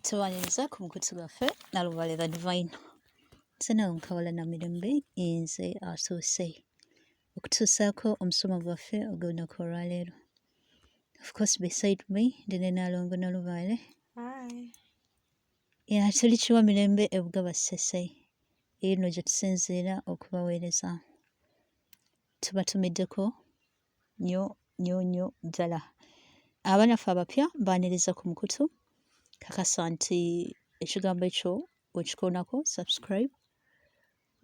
tubaniriza ku mukutu gwaffe nalubaale the divine sena nkawala na mirembe nze atuuse okutuusaako omusomo gwaffe ogw'olunaku olwaleero of course beside me ndi ne nalongo nalubaale ya tuli kiwa mirembe ebuga bassese eno gye tusinziira okubaweereza tubatumiddeko nyo nyo nyo ddala abanaffe abapya baaniriza ku mukutu kakasa nti ekigambo ekyo wekikoonako subscribe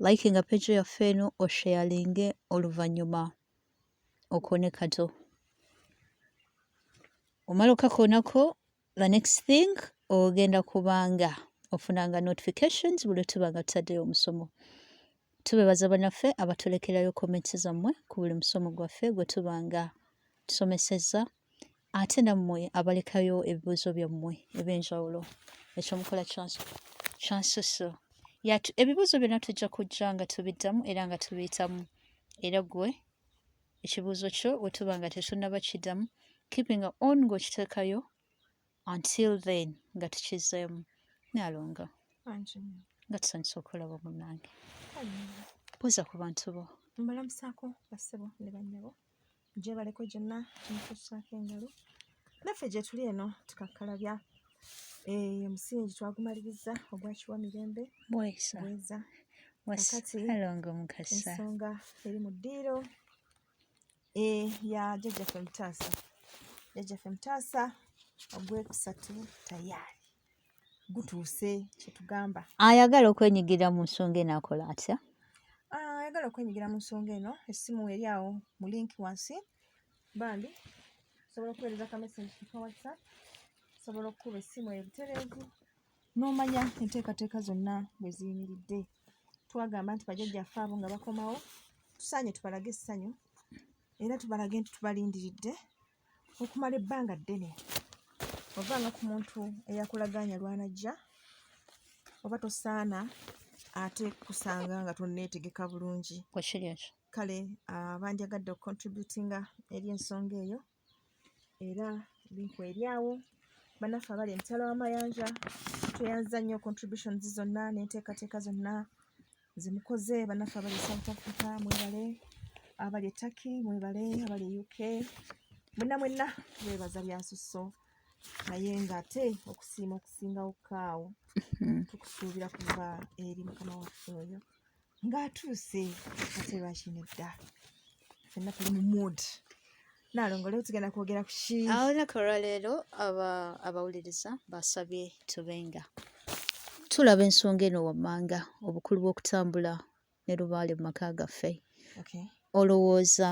like nga peji yaffe eno osheyalinge oluvannyuma okoone kato omala okakoonako the next thing ogenda kubanga ofunanga notifications buli tuba nga tutaddeyo omusomo tubebaza banaffe abatulekerayo comments zammwe ku buli musomo gwaffe gwe tuba nga tusomesezza ate nammwe abalekayo ebibuuzo byammwe ebyenjawulo ekyomukola kyansusu yatu ebibuuzo byonna tujja kujja nga tubiddamu era nga tubiyitamu era gwe ekibuuzo kyo bwe tuba nga tetunnaba kiddamu keeping on ng'okiteekayo until then nga tukizzeemu nalonga nga tusanyusa okulaba munange buuza ku bantu bo mbalamusaako bassebo ne bannyabo gyebaleko gyonna kimukusaako engalo naffe gye tuli eno tukakkalabya eh, omusingi twagumaliriza ogwa kiwa mirembe bweza wakati ensonga eri mu ddiiro eh, ya jajjaffe mutaasa jajjaffe mutaasa ogwekusatu tayaali gutuuse kyetugamba ayagala okwenyigira mu nsonga eno akola atya ah, ayagala okwenyigira mu nsonga eno essimu eri awo mu linki wansi bambi osobola okuweereza ka message ku ka whatsapp osobola okukuba essimu eyo butereevu n'omanya enteekateeka zonna bwe ziyimiridde twagamba nti bajajjaffe abo nga bakomawo tusaanye tubalage essanyu era tubalage nti tubalindiridde okumala ebbanga ddene ovanga ku muntu eyakulagaanya lwanajja oba tosaana ate kusanga nga tonneetegeka bulungi kale bandyagadde okucontributinga eri ensonga eyo era binku eryawo banaffe abali emitala w'amayanja tweyanziza nnyo contributions zonna n'enteekateeka zonna zemukoze banaffe abali e south africa mwebale abali e turkey mwebale abali e uk mwenna mwenna twebaza byasusso naye ng'ate okusiima okusingawo kaawo mm-hmm. tukusuubira kuva eri mukama waffe oyo ng'atuuse ate lwakino edda fenna tuli mu mood naalongo leero tugenda kwogera ku ki olunaku olwaleero abawuliriza basabye tubenga tulaba ensonga eno wammanga obukulu bw'okutambula ne lubaale mu maka gaffe olowooza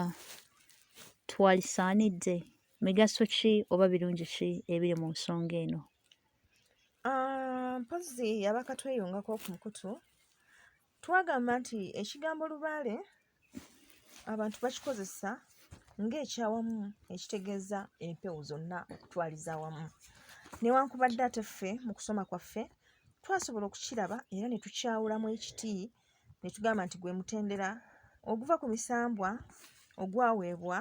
twalisaanidde migaso ki oba birungi ki ebiri mu nsonga eno? Ah, mpozzi yabaka tweyungako ku mukutu twagamba nti ekigambo lubaale abantu bakikozesa ng'ekyawamu ekitegeeza empewo zonna okutwaliza awamu newankubadde ate ffe mu kusoma kwaffe twasobola okukiraba era ne tukyawulamu ekiti ne tugamba nti gwe mutendera oguva ku misambwa ogwaweebwa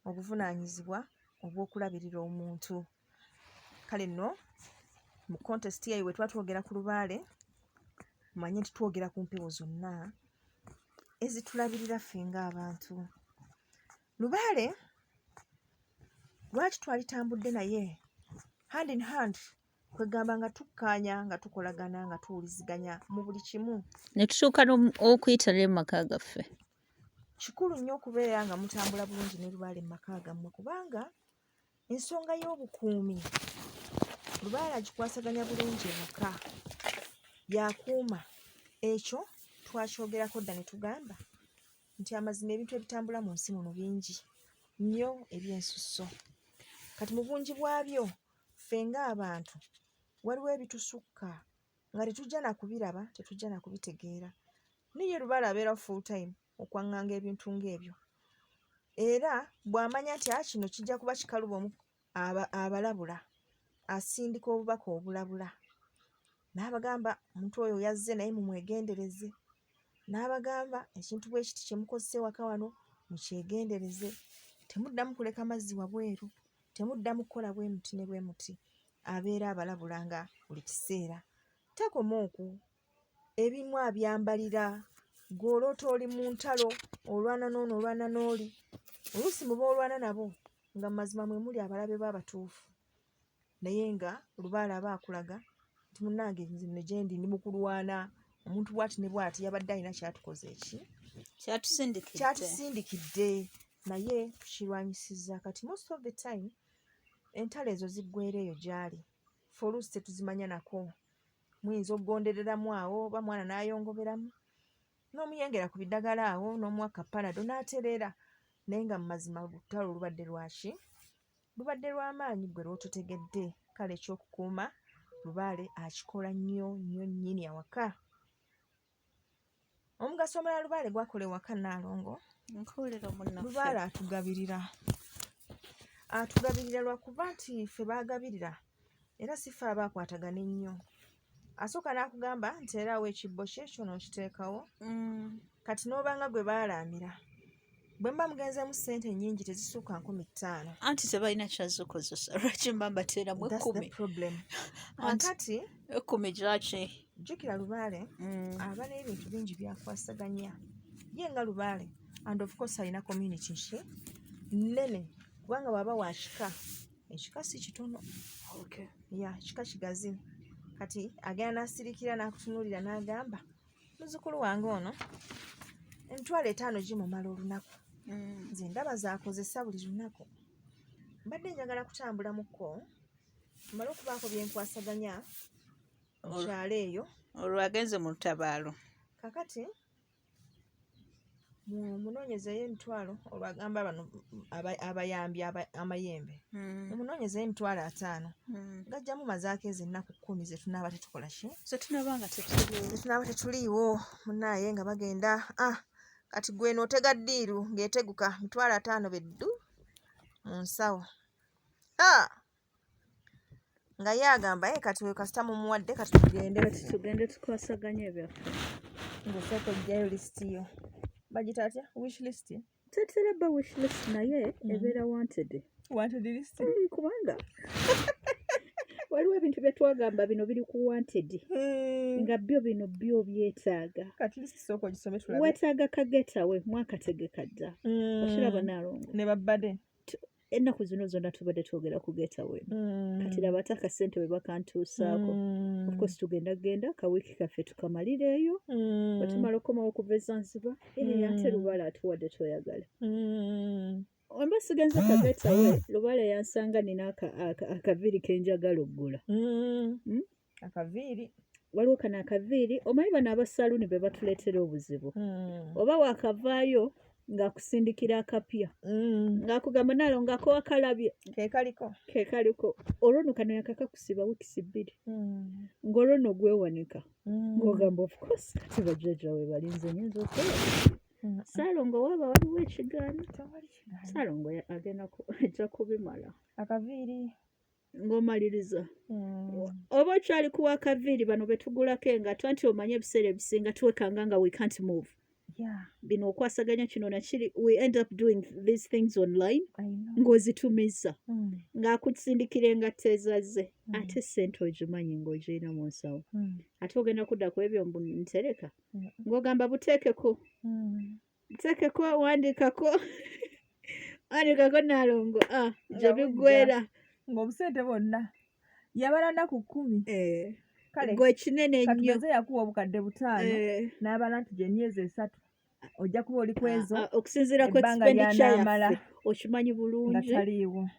obuvunaanyizibwa obw'okulabirira omuntu kale nno mu kontesiti eyo bwe tuba twogera ku lubaale manye nti twogera ku mpewo zonna ezitulabirira ffe ng'abantu lubaale lwaki twalitambudde naye hand in hand kwegamba nga tukkaanya nga tukolagana nga tuwuliziganya mu buli kimu ne tutuuka okuyitala emaka gaffe kikulu nnyo okubeera nga mutambula bulungi ne lubaale mu maka gammwe kubanga ensonga y'obukuumi lubaale agikwasaganya bulungi emaka yakuuma ekyo twakyogerako dda ne tugamba nti amazima ebintu ebitambula mu nsi muno bingi nnyo ebyensusso kati mu bungi bwabyo ffe ng'abantu waliwo ebitusukka nga tetujja na kubiraba tetujja na kubitegeera naye ye lubaale abeera full time okwaŋŋanga ebintu ng'ebyo era bw'amanya nti a ah, kino kijja kuba kikaluba omu abalabula asindika obubaka obulabula n'abagamba omuntu oyo yazze naye mumwegendereze n'abagamba ekintu bwe kiti kye mukozesa ewaka wano mukyegendereze temuddamu kuleka mazzi wabweru temuddamu kukola bwe muti ne bwe muti abeera abalabula nga buli kiseera takoma oku ebimu abyambalira gwe oloota oli mu ntalo olwana noono olwana n'oli oluusi muba olwana nabo nga mu mazima mwe muli abalabe bo abatuufu naye nga lubaala aba akulaga nti munnange nzino gyendi ndi mukulwana omuntu bwati ne bwati yabadde alina kyatukoze eki kyatusindikidde naye tukirwanyisiza kati most of the time entalo ezo ziggwera eyo gy'ali fe oluusi tetuzimanya nako muyinza okugondereramu awo oba mwana n'ayongoberamu n'omuyengera ku biddagala awo n'omuwa kapanado n'atereera naye nga mu mazima olutalo olubadde lwaki lubadde lw'amaanyi gwe lw'ototegedde kale ekyokukuuma lubaale akikola nnyo nnyo nnyini awaka omugaso omulala lubaale gwakola ewaka naalongo lubaale atugabirira atugabirira lwakuba nti ffe baagabirira era si ffe aba akwatagana ennyo asooka n'akugamba nti era awo ekibbo kye kyo nookiteekawo mm. kati n'obanga gwe baalaamira bwe mba mugenzeemu ssente nnyingi tezisukka nkumi ttaano anti tebalina kyazikozesa lwaki mba mbateeramu ekkumi akati ekkumi gyaki jjukira lubaale mm. aba n'ebintu bingi byakwasaganya ye nga lubaale and of course alina community nki nnene kubanga bwaba wa kika ekika si kitono ya kika kigazi kati agenda n'asirikira n'akutunuulira n'agamba muzukulu wange ono emitwalo etaano gimumala olunaku mm. nze ndaba zakozesa buli lunaku mbadde njagala kutambulamuko mala okubaako byenkwasaganya mukyalo eyo olwagenze mu lutabaalo kakati mumunonyeza ye emitwalo olwagamba bano abayambi amayembe mumunonyeza hmm. emitwalo ataano hmm. gajjamu mazaako ezo ennaku kumi zetunaaba tetukola ki zetunaaba tetuliiwo munaaye nga bagenda ah, kati gweno otega ddiiru ng'eteguka mitwalo ataano beddu mu nsawo ah! nga ye agamba ye kati oyo kasita mumuwadde kati tugende tugende tukwasaganya ebyaffe ngaosooka ojjayo lisiti yo bagita atya wish list tetera ba wish list naye mm. ebeera wanted wanted list eh, kubanga waliwo ebintu bye twagamba bino biri ku wanted hmm. nga byo bino byo byetaaga wetaaga kagetawe mwakategeka dda hmm. okiraba nalongo ne babade ennaku zino zonna tubadde twogera ku getaway mm. kati laba ate akasente bwe bakantuusaako mm. ofcourse tugenda genda kawiiki kaffe tukamalireeyo mm. batumala okukomawo okuva ezanziba ee ate lubaala atuwadde toyagala omba sigenza ka getaway lubaala yansanga nina akaviiri kenjagala oggula hmm? akaviiri waliwo kano akaviiri omanyi bano abasaluuni be batuleetera obuzibu hmm. oba wakavaayo ng'akusindikira akapya hmm. ng'akugamba naalo ngako wakalabye kekaliko kekaliko olwo no kano yakakakusiba wiikisi bbiri hmm. ng'olwo no gwewanika ng'ogamba ofcourse kati bajjaja we balinze nyinza okola saalongo waaba waliwo ekigaana saalongo agenda ajja kubimala akaviiri ng'omaliriza mm. oba okyali kuwa kaviiri bano betugulako engato anti omanye ebiseera ebisinga twekanga nga we can't move bino okwasaganya kino nakiri we end up doing these things online ng'ozitumiza mm. ng'akusindikira engatto ezaze mm. ate sente ogimanyi ng'ogirina mu nsawo ate ogenda kudda ku ebyo mbu ntereka ng'ogamba buteekeko nsekeko wandikako wandikako nalongo ah, gyebigwera ngaobusente bwonna yabala naku kumi eh, gwekinene nnyo yakuwa obukadde butaano eh. n'abala nti gyemyezi esatu ojja kuba oli kwezo ah, ah, okusinziira ku expenditure yaffe okimanyi bulungi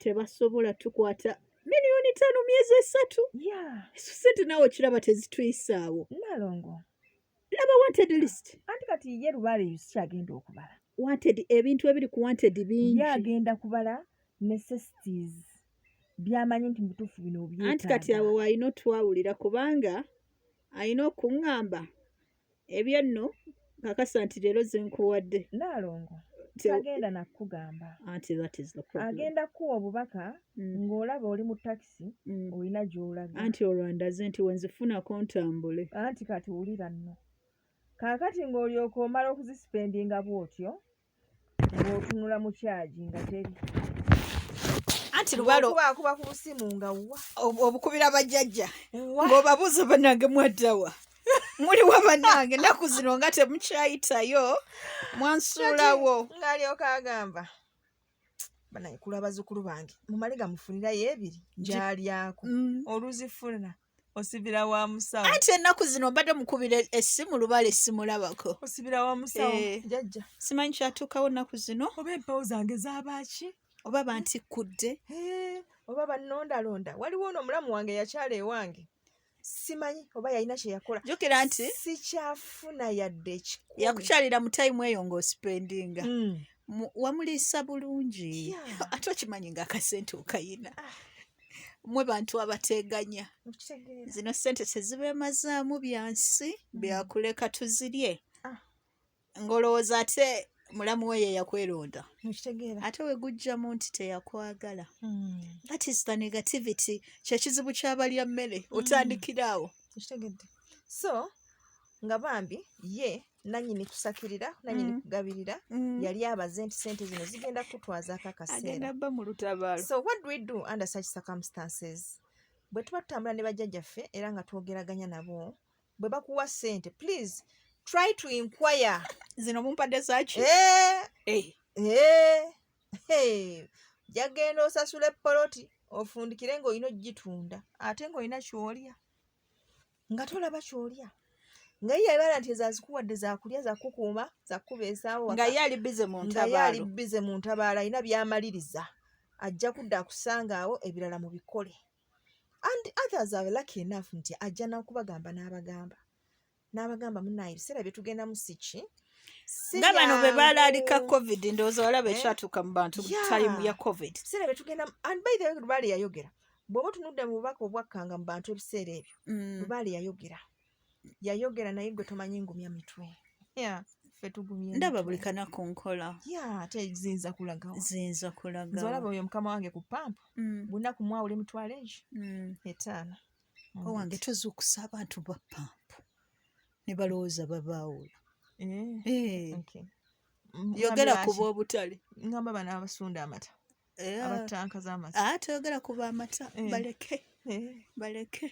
tebasobola tukwata miliyoni ttaano myezi esatu esu sente nawe okiraba tezituyisaawo nalongo laba wanted list anti kati ye lubaale yusi agenda okubala wanted ebintu ebiri ku wanted bingi ye agenda kubala necessities byamanyi nti mubutuufu bino obyetaaga anti kati abo walina otwawulira kubanga alina okuŋŋamba ebyo nno kakasa nti leero zenkuwadde naalongo tagenda nakugamba agenda kuwa obubaka mm. ng'olaba oli mu taxi bokisi mm. olina gyolaga anti olwandaze nti wenzifunako ntambule anti kati wulira nno kaakati ng'olyoka omala okuzisipendinga bw'otyo ng'otunula mu kyagi nga teri anti lubalokubakuba ku busimu nga wa obukubira bajjajja ng'obabuuza banange mwaddawa muli wa banange ennaku zino nga temukyayitayo mwansuulawo ng'alyoka agamba banaye kula bazukulu bange mumale gamufunira yebiri gyalyako mm. oluzifuna osibira wa musawo ati ennaku zino mbadde mukubira essimu lubala essimulabako osibira wa musawo eh, jajja simanyi kyatuukawo ennaku zino oba empawo zange zabaaki oba bantikkudde oba bannondalonda waliwo ono omulamu wange yakyala ewange simanyi oba yalina kyeyakola jukira nti sikyafuna yadde ekikumi yakukyalira mu tayimu eyo ng'osipendinga mm. wamuliisa bulungi yeah. ate okimanyi nga akasente okayina ah. mwe bantu abateganya zino sente tezibemazaamu byansi hmm. byakuleka tuzirye ng'olowooza ate mulamu we yeyakweronda ate wegujja mu nti teyakwagala hmm. that is the negativity kyekizibu kyabalya mmere hmm. otandikira awo so nga bambi ye nanyini kusakirira nanyini mm. kugabirira mm. yali abaze nti sente zino zigenda kutwaza akakaseeraba mu lutabaalo so what do we do under such circumstances bwe tuba tutambula ne bajjajjaffe era nga twogeraganya nabo bwe bakuwa sente please try to inquire zino mumpadde zaki eh, eh. eh. hey. jagenda osasula epoloti ofundikire ngaolina ogitunda ate ngaolina kyolya nga tolaba kyolya nga ye yabala nti ezazikuwadde zakulya zakukuuma zakukuba esaawo nga ye ali bize mu ntabaalo nga ye ali bize mu ntabaalo alina byamaliriza ajja kudda akusangaawo ebirala mu bikole and others are lucky enough nti ajja nakubagamba n'abagamba n'abagamba munaye ebiseera byetugenda mu siki nga bano bwe balaalika covid ndowooza walaba eh? ekyatuuka mu bantu time ya covid ebiseera byetugenda and by the way lubaale yayogera bw'oba otunudde mu bubaka obwakkanga mu bantu ebiseera ebyo mm. lubaale yayogera yayogera naye gwe tomanyi ngumya mitwe ndaba buli kanaku nkola tezinza kulaga zinza kulaga olaba oyo mukama wange ku pampu mm. bunaku mwawula emitwalo egyo mm. etaano owange tozuukusa abantu ba pampu ne balowooza babaawula eh, eh. yogera kuba obutale ngamba bana abasunda amata eh, abatanka z'amata ah, toyogera ku b'amata eh. baleke eh. baleke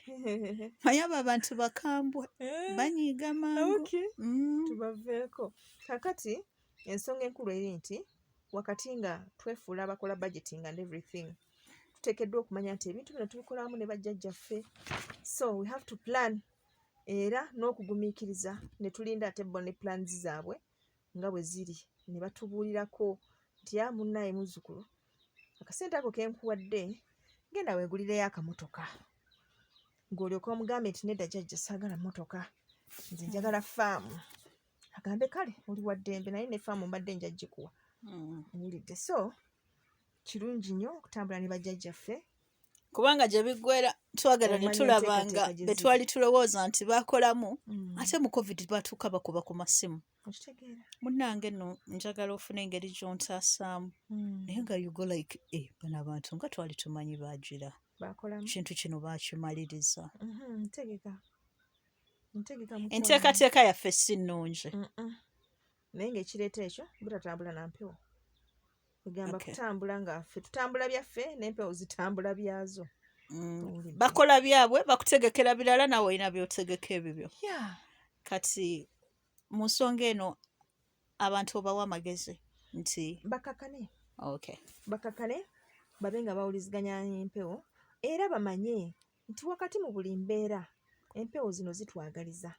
naye abo abantu bakambwe banyiiga mangu mm. tubaveeko kakati ensonga enkulu eri nti wakati nga twefuula abakola budgeting and everything tuteekeddwa okumanya nti ebintu bino tubikolamu ne bajjajjaffe so we have to plan era n'okugumiikiriza ne tulinda ate bo ne plans zaabwe nga bwe ziri ne batubuulirako nti a munnaaye muzzukulu akasente ako kenkuwadde genda weegulireyo akamotoka ng'olyoka omugambe nti nedda jajja saagala mmotoka nze njagala faamu agambe kale oli wa ddembe naye ne faamu mbadde njajjikuwa hmm. wulidde so kirungi nnyo okutambula ne bajjajjaffe kubanga gye biggwera twagala ne tulaba nga be twali tulowooza nti bakolamu mm. ate mu covid batuuka bakuba ku masimu munnange no njagala ofuna engeri gyontaasaamu mm. naye nga yugo like e eh, bano abantu nga twali tumanyi bagira kintu kino bakimaliriza mm-hmm, enteekateeka yaffe si nnungi naye ngaekireeta ekyo butatambula na mpewo egamba okay. kutambula nga ffe tutambula byaffe n'empewo zitambula byazo mm. bakola byabwe bakutegekera birala nawe olina byotegeka ebibyo yeah. kati mu nsonga eno abantu obawa amagezi nti bakakane okay. bakakane babe nga bawuliziganya empewo era bamanye nti wakati mu buli mbeera empewo zino zitwagaliza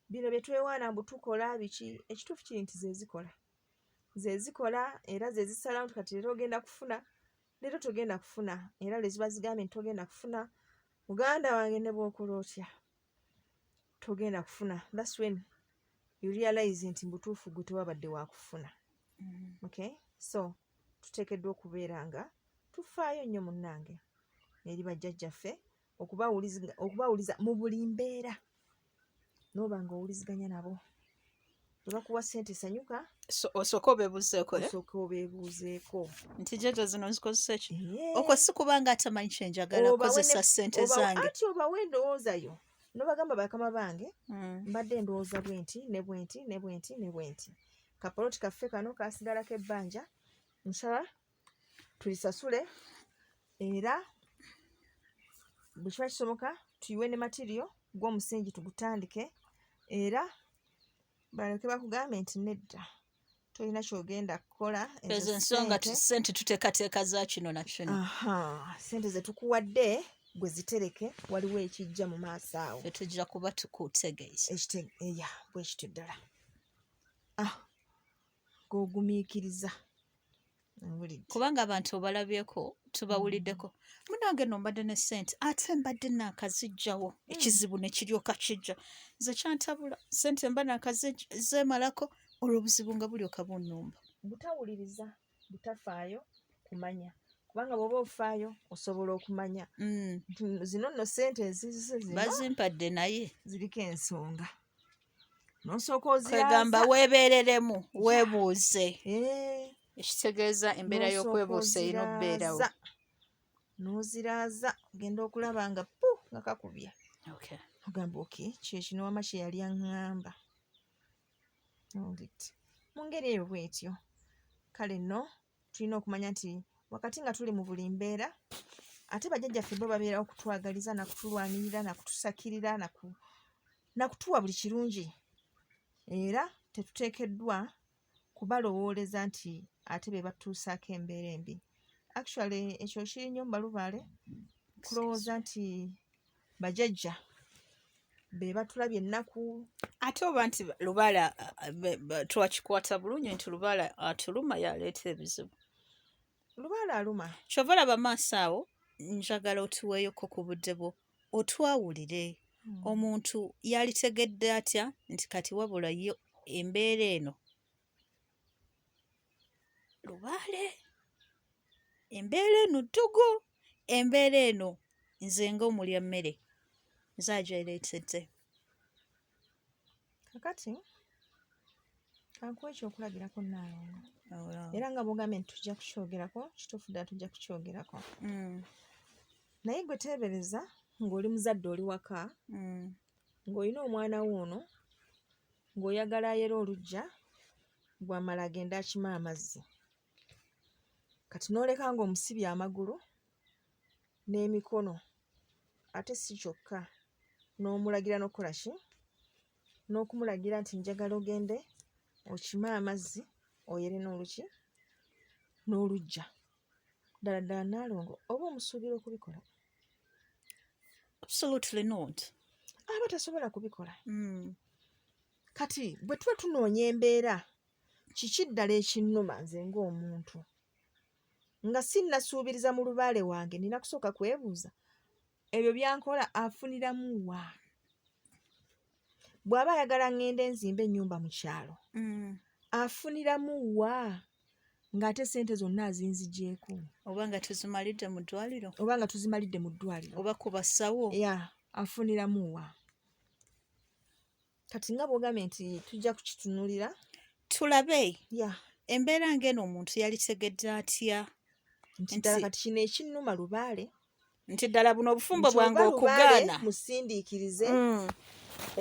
bino bye twewaana mbu tukola biki ekituufu kiri nti zezikola zezikola era zezisalawo nti kati leero ogenda kufuna leero togenda kufuna era leziba zigambye nti togenda kufuna muganda wange ne bwokola otya togenda kufuna thats when you realize nti mubutuufu gwe tewabadde wakufuna mm-hmm. okay so tuteekeddwa okubeera nga tufaayo nnyo munnange eri bajjajjaffe okubawuliza mu buli mbeera noba nga owuliziganya nabo webakuwa sente sanyuka osooka obebuuzeeko eh? osooka obebuuzeeko nti jaja zino nzikozesa ki okwo si kubanga atamanyi kyenjagala kozesa sente zange ati obawa endowooza yo nobagamba bakama bange hmm. mbadde endowooza bwenti ne bwenti ne bwenti ne bwenti kapoloti kaffe kano kasigalako ebbanja nsaba tulisasule era bwe kiba kisoboka tuyiwe ne matiriyo gw'omusingi tugutandike era balyoke bakugambe nti nedda tolina kyogenda kukola ezo ensonga sente tuteekateeka za kino na kino sente ze tukuwadde gwe zitereke waliwo ekijja mu maaso awo fetujja kuba tukutegeeza eya bwekityo ddala ah. g'ogumiikiriza kubanga abantu obalabyeko tubawuliddeko munange no mbadde ne sente ate mbadde nakazijjawo hmm. ekizibu nekiryoka kijja nze kyantabula sente mba nakazemalako olwo obuzibu nga bulyoka bunumba butawuliriza butafaayo kumanya kubanga bwoba ofaayo osobola okumanya hmm. zino nno sente ezizibazimpadde naye ziriko ensonga kwegamba weebeereremu weebuuze eh. ekitegeeza embeera y'okwebuusa erina okubeerawo n'oziraaza ogenda okulaba nga pu nga kakubya ogamba oke kyekino wama kye yali aŋŋamba mu ngeri eyo bwetyo kale no tulina okumanya nti wakati nga tuli mu buli mbeera ate bajjajjaffe bo babeerawo kutwagaliza nakutulwanirira nakutusakirira nakutuwa buli kirungi era tetuteekeddwa kubalowooleza nti ate be batuusaako embeera embi actually ekyo kiri nnyo mu balubaale kulowooza nti bajajja be batulabye ennaku ate oba nti lubaala twakikwata bulungi nti lubaala atuluma yaleeta ebizibu lubaala aluma kyova olaba maaso awo njagala otuweeyoko ku budde bwo otwawulire hmm. omuntu yalitegedde atya nti kati wabula ye embeera eno lubaale embeera eno ttugu embeera eno nze nga omulya mmere nze agyereetedde kakati kankuwa ekyokulabirako naalongo oh, era nga bwogambye nti tujja kukyogerako kituufu ddala tujja kukyogerako mm. naye gwe teebereza ng'oli muzadde oli waka mm. ng'olina omwana wo ono ng'oyagala ayere oluggya gwamala agende akima amazzi kati n'oleka ng'omusibye amagulu n'emikono ate si kyokka n'omulagira n'okukola ki n'okumulagira nti njagala ogende okime amazzi oyere n'oluki n'oluggya ddala ddala naalongo oba omusuubira okubikola absolutely not aba tasobola kubikola mm. kati bwe tuba tunoonya embeera kiki ddala ekinnuma nze ng'omuntu nga sinnasuubiriza mu lubaale wange nina kusooka kwebuuza ebyo byankola afuniramu wa bw'aba ayagala ŋŋende nzimba ennyumba mu kyalo mm. afuniramu wa ng'ate ssente zonna azinzigyeko oba nga tuzimalidde mu ddwaliro oba nga tuzimalidde mu ddwaliro oba ku basawo ya afuniramu wa kati nga bwogambye nti tujja kukitunulira tulabe ya embeera ng'eno omuntu yalitegedde atya nti ddala kati kino ekinnuma lubaale nti ddala buno obufumbo bwange okugaana musindiikirize mm.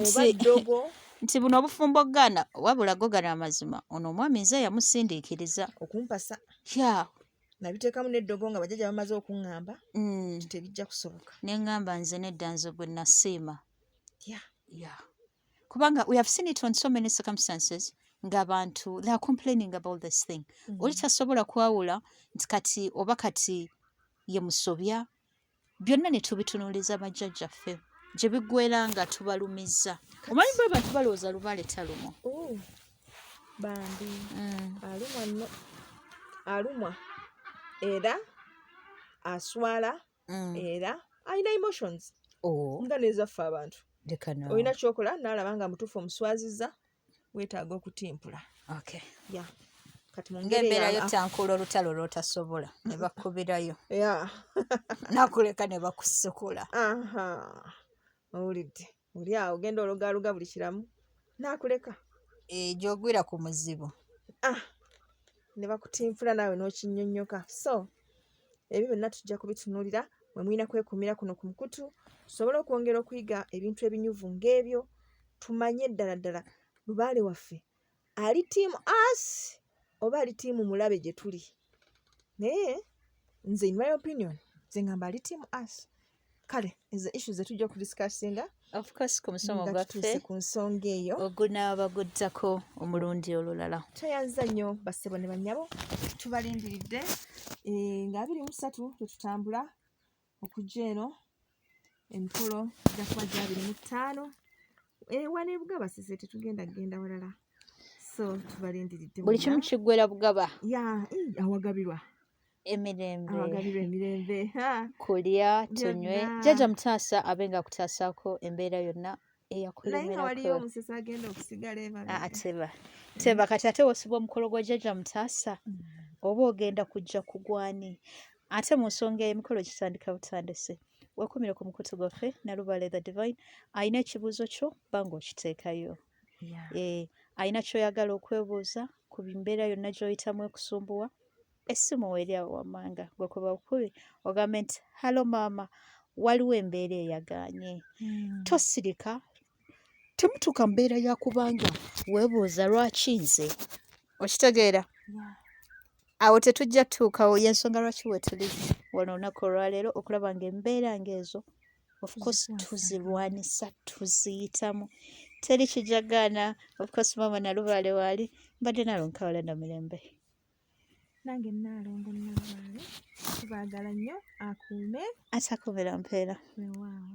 oba ddogo nti buno obufumbo okugaana wabula gogana amazima ono omwami nze yamusindiikiriza okumpasa ya nabiteekamu neddogo nga bajaja bamaze okuŋŋamba mm. tebijja kusoboka ne ŋŋamba nze nedda nze gwe nasiima ya ya kubanga we have seen it on so many circumstances ng'abantu they are complaining about this thing mm -hmm. oli tasobola kwawula nti kati oba kati ye musobya byonna ne tubitunuuliza bajjajjaffe gye biggwera nga tubalumizza omanyi bwe bantu balowooza lubaale talumwa bambi mm. alumwa alumwa era aswala mm. era alina emotions oh. nga nezaffe abantu olina kyokola nalaba nga mutuufu omuswaziza wetaaga okutimpula okay. yeah. ngembeerayo tankuula olutalo lwotasobola nebakubirayo nakuleka nebakusukula owulidde oli awo genda ologaloga buli kiramu nakuleka egyo eh, ogwira ku muzibu ah, ne bakutinfula naawe n'okinyonyoka so ebyo byonna tujja kubitunuulira mwe mulina kwekumira kuno ku mukutu tusobole okwongera okuyiga ebintu ebinyuvu ng'ebyo tumanye ddala ddala lubaale waffe ali team us oba ali team mulabe gye tuli naye nze in my opinion nze ngamba ali team us kale ezo issu zetujja okudiscussinga ofcoursekumusomogwaffe ku nsonga eyo ogunaaba guddako omulundi olulala tweyanza nnyo bassebo ne banyabo tubalindiridde eh, nga abiri musatu tetutambula okujja eno emikolo gya kuba gya abiri mu ttaano ewa ne bugaba sise tetugenda kugenda walala so tubalindiridde buli kimu kiggwera bugaba ya awagabirwa emirembe awagabirwa emirembe kulya tunywe jaja mutaasa abe nga akutaasako embeera yonna eyakulemerakateba teba kati ate wosiba omukolo gwa jajja mutaasa mm. oba ogenda kujja kugwani ate mu nsonga emikolo gitandika butandise wekumire ku mukutu gwaffe nalubale the divine alina ekibuuzo kyo banga okiteekayo eh, alina kyoyagala okwebuuza ku mbeera yonna gyoyitamu ekusumbuwa essimu weeri awo wammanga gwe kuba bukubi ogambe nti halo maama waliwo embeera eyagaanye hmm. tosirika temutuuka mbeera yakubanga weebuuza lwaki nze okitegeera awo tetujja tuukawo yensonga lwaki wetuli wano olunaku olwaleero okulaba nga embeera ngaezo ofcourse tuzirwanisa tuziyitamu teri kijagaana ofcourse maama nalubaale waali mbadde nalonkawala namirembe nange naalongo nabaale tubaagala nnyo akuume asakubira mpeera wewaawo